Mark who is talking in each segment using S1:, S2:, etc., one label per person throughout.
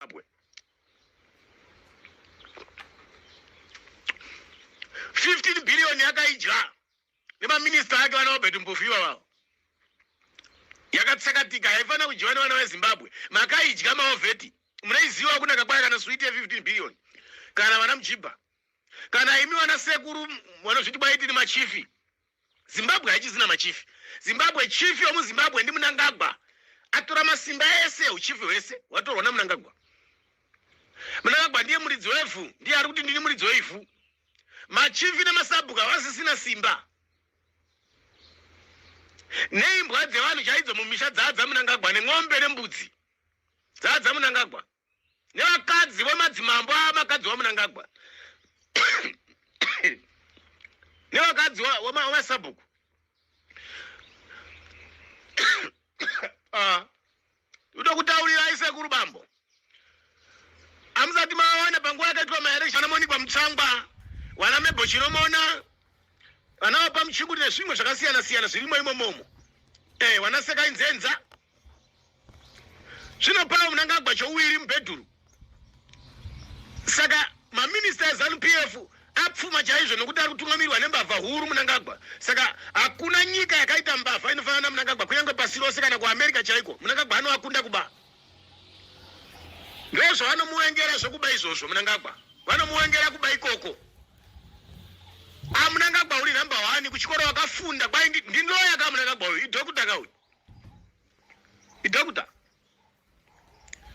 S1: Zimbabwe. Fifteen billion yakaidya nemaminista ake vana Robert Mpofu ivavavo yakatsakatika haifanira kudyiwa nevana vezimbabwe makaidya maovheti munaiziva kunaka kwayo kana switi ye15 billion kana vana mjibha kana imi vana sekuru vanozviti kwaitini machifi zimbabwe haichizina machifi zimbabwe chief yomuzimbabwe ndi munangagwa atora masimba ese uchifi hwese watorwa namunangagwa munangagwa ndiye muridzi wevhu ndiye ari kuti ndini muridzi weivhu machifi nemasabhuku havasisina simba neimbwa dzevanhu chaidzo mumisha dzaadza munangagwa nen'ombe nembudzi dzaadza munangagwa nevakadzi vemadzimambo avakadzi vamunangagwa nevakadzi vemasabhuku ah. uda kutaurirai sekuru bambo amusati mawana panguva yakaitwa maereshana monikwa mutsangwa wana mebo chinomona vana vapa muchinguri nezvimwe zvakasiyana siyana zvirimo imomomo eh, wana sekainzenza zvino pava munangagwa chouiri mubhedhuru saka maminista ezanup f apfuma chaizvo nokuti ari kutungamirwa nembavha huru munangagwa saka hakuna nyika yakaita mbavha inofanana namunangagwa kunyange pasi rose kana kuamerica chaiko munangagwa anoakunda kuba ndozvavanomuwengera zvekuba izvozvo munangagwa vanomuwengera kuba ikoko amunangagwa ah, uri number one kuchikoro wakafunda kwai ndinoya ka munangagwa uyu idhokuta ka uyu idokta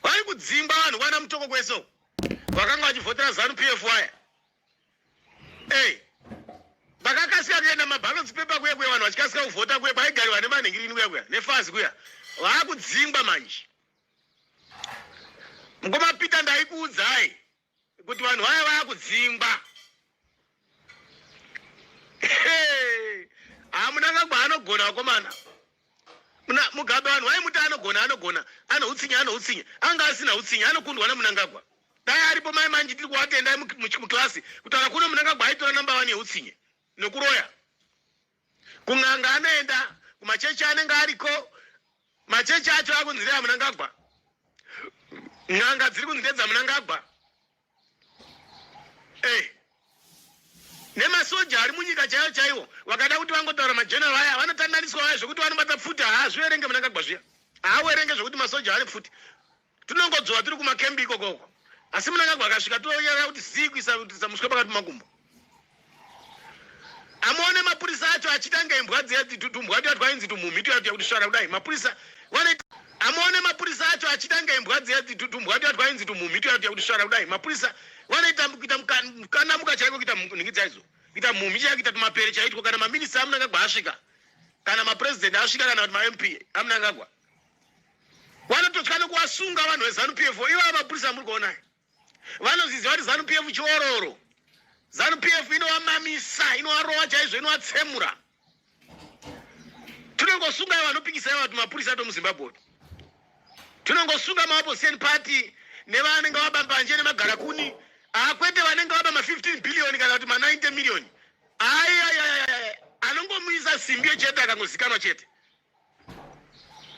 S1: vari kudzingwa vanhu vana mutoko kwese vakanga vachivhotera zanu pf waya ey vakakasika kuenda mabalotsi pepa kuya kuya vanhu vachikasika kuvhota kuya kwaigariwa nemanhingirini kuya kuya nefazi kuya vaakudzingwa manje mukoma peter ndaikuudzai kuti vanhu vaya vakudzingwa hamunanga kwaanogona vakomana mugabe vanhu wai muti anogona anogona ano utsinye ano utsinye anga asina utsinye anokundwa namunangagwa dai aripo mai manji tiri kuvatendai muklasi kutaura kuno munangagwa aitora namba wani yeutsinye nokuroya kun'anga anoenda kumachechi anenge ariko machechi acho akunzi ndeamunangagwa n'anga dziri kunzi ndedzamunangagwa ey eh. nemasoja ari munyika chaiyo chaiwo vakada kuti vangotaura majeneral aya vanotandaniswa vaya zvekuti vanobata pfuti haazviverenge munangagwa zviya haaverenge zvekuti masoja ane pfuti tinongodzora tiri kumakembi ikoko uko asi munangagwa akasvika toyera kuti zii kuisa kutisa muswe pakati makumbo amuone mapurisa acho achitanga imbwa dziya tumbwa tuya twainzi tumhumhi tuya tuya kuti svara kudai mapurisa vanoita amuone mapurisa acho achitanga imbwa dziya tumbwa tuya twainzi tumhumhi tuya tuya kuti svara kudai mapurisa vanoita kuita mukanamuka chaiko kuita nhingi dzaizo kuita mhumhi chaiko kuita tumapere chaitwo kana maminista amunangagwa asvika kana mapresident asvika kana kuti mamp amunangagwa vanototya nekuvasunga vanhu vezanup f ivaa mapurisa muri kuonai vanozviziva kuti zanup f chiororo zanup f inovamamisa inovarova chaizvo inovatsemura tinongosunga ivo vanopikisa ivo vati mapurisa ato muzimbabwe tinongosunga maopposition party nevanenge vaba mbanje nemagara kuni akwete ah, vanenge vaba ma15 billion kana kuti ma90 million ayayayaya anongomuisa simbi yechete akangozikanwa chete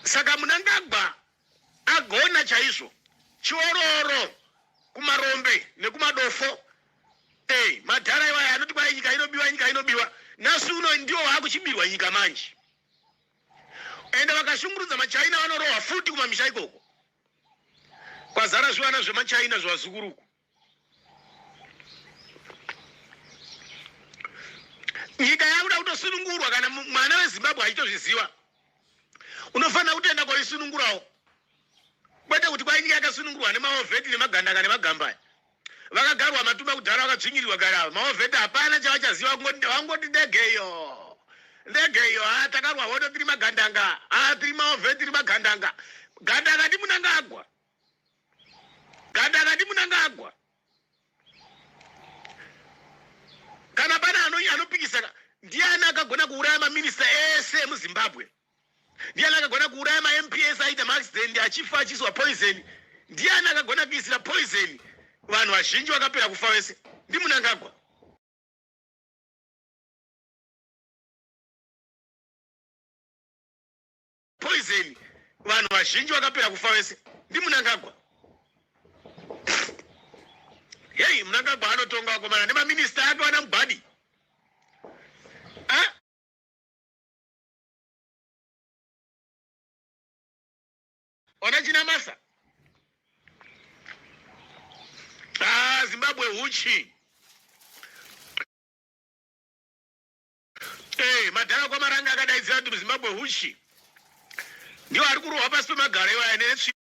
S1: saka munangagwa agona chaizvo chiororo kumarombe nekumadofo ey madhara iwaya anoti kwai nyika inobiwa nyika inobiwa nhasi uno ndiwo waakuchibirwa nyika manje ende vakashungurudza machina vanorohwa futi kumamisha ikoko kwazara zvivana zvemachina zvevazukuru uku nyika yakuda kutosunungurwa kana mwana wezimbabwe achitozviziva unofanira kutoenda kwaisunungurawo kwete kuti kwai nyika yakasunungurwa nemaovheti nemagandaka nemagambaya vakagarwa matumba kudhara vakadzvinyirirwa gari ava maovheti hapana chavachaziva kungoti vangoti ndegeyo ndegeyo ha ah, takarwa hodo tiri magandanga ha ah, tiri maovheti tiri magandanga gandanga ndimunangagwa Ganda akati munangagwa kana pane anopikisana ndiani akagona kuuraya maminista ese emuzimbabwe ndiani akagona kuuraya mamps aita maaccident achifa achiiswa poison ndiani akagona kuisira poison vanhu vazhinji vakapera kufa vese ndimunangagwa poison vanhu vazhinji vakapera kufa vese ndimunangagwa heyi munangagwa anotonga vakomana nemaminista ake vana mubhadi ona china masa ah, zimbabwe huchi Eh, madhara kwamaranga akadaidzira kuti muzimbabwe huchi ndiwo ari kurohwa pasi pemagaro iwaya netsvimbo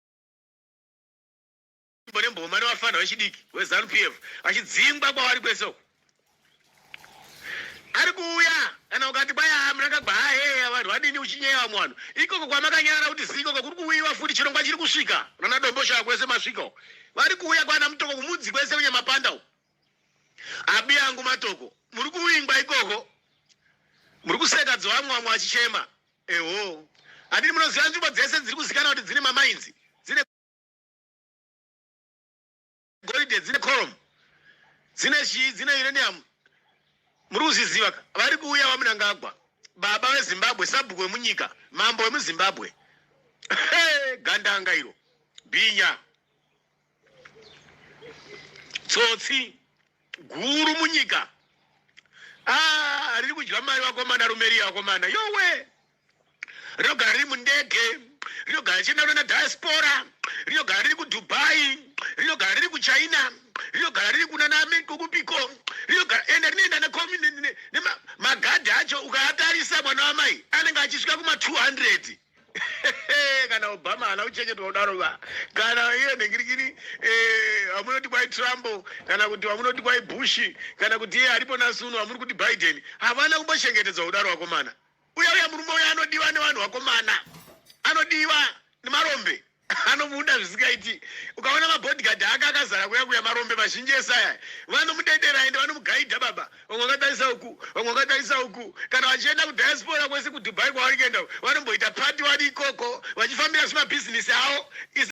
S1: nemboma nevafanha vechidiki wezanu p f vachidzingwa kwavari kwese uku ari kuuya kana ukati kwaya murakagwa haheya vanhu vadini uchinyeya vamwe vanhu ikoko kwamakanyara kuti ziikoko kuri kuuyiwa futi chirongwa chiri kusvika nana dombo shaya kwese masvika uku vari kuuya kwana mutoko kumudzi kwese kunyamapanda uku Abi yangu matoko muri kuvingwa ikoko muri kuseka dzovamwe vamwe vachichema eho adini munoziva nzvimbo dzese dziri kuzikana kuti dzine mamainzi dzine goridhe dzine corom dzine chii dzine uranium muri kuzviziva ka vari kuuya vamunangagwa baba vezimbabwe sabhuku vemunyika mambo vemuzimbabwe gandanga iro bhinya tsotsi guru munyika ah, riri kudya mari vakomana rume riya vakomana yowe rinogara riri mundege rinogara richindaura na diaspora rinogara riri kudubai rinogara riri kuchina rinogara riri kunanamekokupiko rinogara ende rinoenda nemagadhi acho ukaatarisa mwana wamai anenge achisvika kuma 200 kana obama haana kuchengetwa kudaro va kana iye nhingirikini eh, vamunoti kwai trump kana kuti vamunoti kwai bush kana kuti iye aripo nasuno vamuri kuti biden havana kumbochengetedzwa kudaro vakomana uya uya murume uya anodiwa nevanhu vakomana anodiwa nemarombe anomuda zvisingaiti ukaona mabodyguard ake akazara kuya kuya marombe mazhinji ese aya vanomudedera ende vanomugaidha baba vamwe vakatarisa uku vamwe vakatarisa uku kana vachienda kudiaspora kwese kudubai kwavari kuenda vanomboita pati vari ikoko vachifambira zvimabhizinisi avo